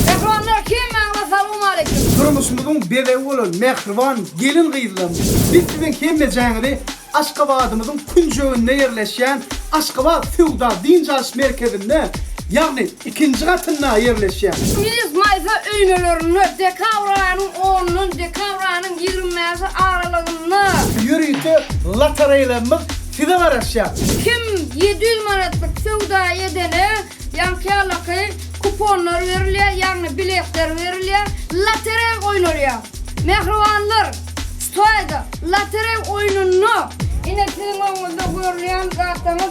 Mähribanlar hemmäňize salowmaleýkim. Durmuşymyzyň bezegi bolan mähriban gelin-gyzlarymyz, biz siziň hemmejaňyzy Aşgabadymyzyň künjeginde ýerleşýän Aşgabat söwda-dynç alyş merkezinde, ýagny ikinji gatynda ýerleşýär. Milis maýsa öýmelerinde dekabr aýynyň onundan dekabr aýynyň ýigrimi bäşi aralygynda. Ýörite lotoreýlerimiz size garaşýar. Kim ýedi ýüz manatlyk söwda edene ýaňkyýalaky kuponlar berilýär, ýagny biletler berilýär, lotereý oýnalýar. Mähribanlar, şu taýda lotereý oýnunda. Ine siziň öňüňizde görülýän zatlaryň